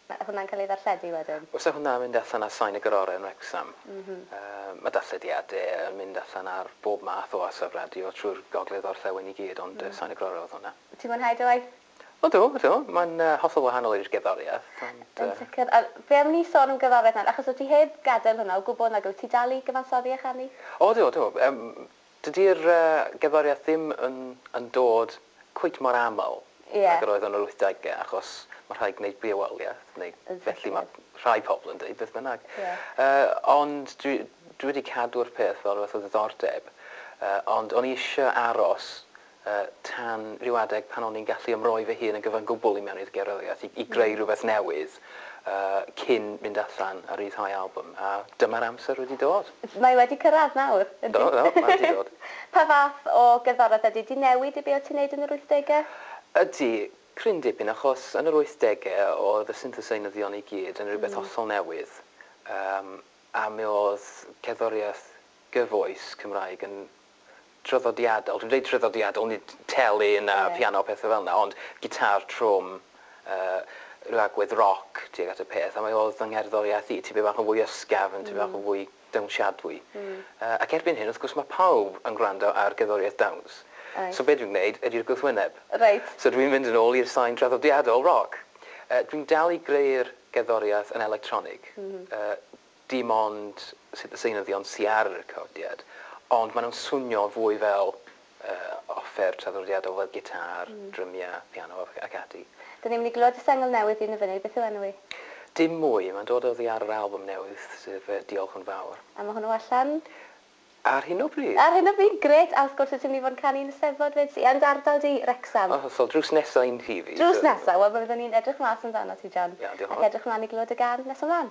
Mae hwnna'n cael ei ddarlledu wedyn? Oes a hwnna'n mynd allan ar sain y Gororau yn Wrecsam? Mae darllediadau yn mynd allan ar bob math o orsaf radio trwy'r gogledd orllewin i gyd ond sain y Gororau oedd hwnna. Ti'n mwynhau dy waith? O do, o do. Mae'n hollol wahanol i'r gerddoriaeth ond... Yn sicr. A be am ni sôn am gerddoriaeth nawr achos wyt ti heb gadael hwnna o gwbl nag wyt? Ti dal i gyfansoddi a chanu? O do, do. Dydi'r gerddoriaeth ddim yn yn dod cweit mor aml ag yr oedd o yn yr wythdegau achos mae rhaid gwneud bioamrywiaeth neu felly mae rhai pobl yn dweud, beth bynnag. Ond dwi dwi wedi cadw'r peth fel rhywbeth o ddiddordeb ond o'n i eisiau aros y tan ryw adeg pan o'n i'n gallu ymroi fy hun yn gyfan gwbl i mewn i'r gerddoriaeth, i greu rhywbeth newydd, cyn mynd allan a ryddhau albwm, a dyma'r amser wedi dod. Mae wedi cyrraedd nawr, yndi? Do, do, mae wedi dod. Pa fath o gerddoriaeth ydy? Ydy newid i be o ti'n neud yn yr wythdegau? Ydy, cryn dipyn, achos yn yr wythdegau oedd y syntheseinyddion i gyd yn rhywbeth hollol newydd, a mi oedd cerddoriaeth gyfoes Cymraeg yn traddodiadol, dwi'n dweud traddodiadol, nid telyn a phiano a pethau fel yna, ond gitâr trwm, rhyw agwedd roc tuag at y peth, a mae oedd fy ngerddoriaeth i, tipyn bach yn fwy ysgafn, tipyn bach yn fwy dawnsiadwy. Ac erbyn hyn, wrth gwrs, mae pawb yn gwrando ar gerddoriaeth dawns, so be dwi'n gwneud ydy'r gwrthwyneb. So dwi'n mynd yn ôl i'r sain traddodiadol, roc. Dwi'n dal i greu'r gerddoriaeth yn electronig. dim ond sut y seunyddion sy ar y recordiad, ond maen nhw'n swnio fwy fel offer traddodiadol fel gitâr, drymiau, piano ac ati. Dyn ni'n mynd i glywed y sengl newydd un y funud, beth yw enw hi? Dim mwy, mae'n dod oddi ar yr albwm newydd, sef Diolch yn Fawr. A mae hwnnw allan? Ar hyn o bryd! Ar hyn o bryd, grêt! A wrth gwrs wyt ti'n mynd i fod yn canu yn y Steddfod 'fyd, sy yn dy ardal di, Wrecsam. Yn hollol, drws nesa i'n nhŷ fi. Drws nesa, wel mi fyddwn ni'n edrych mas amdanat ti John. Iawn, diolch yn fawr. Ac edrych mlaen i glywed y gân nes ymlaen.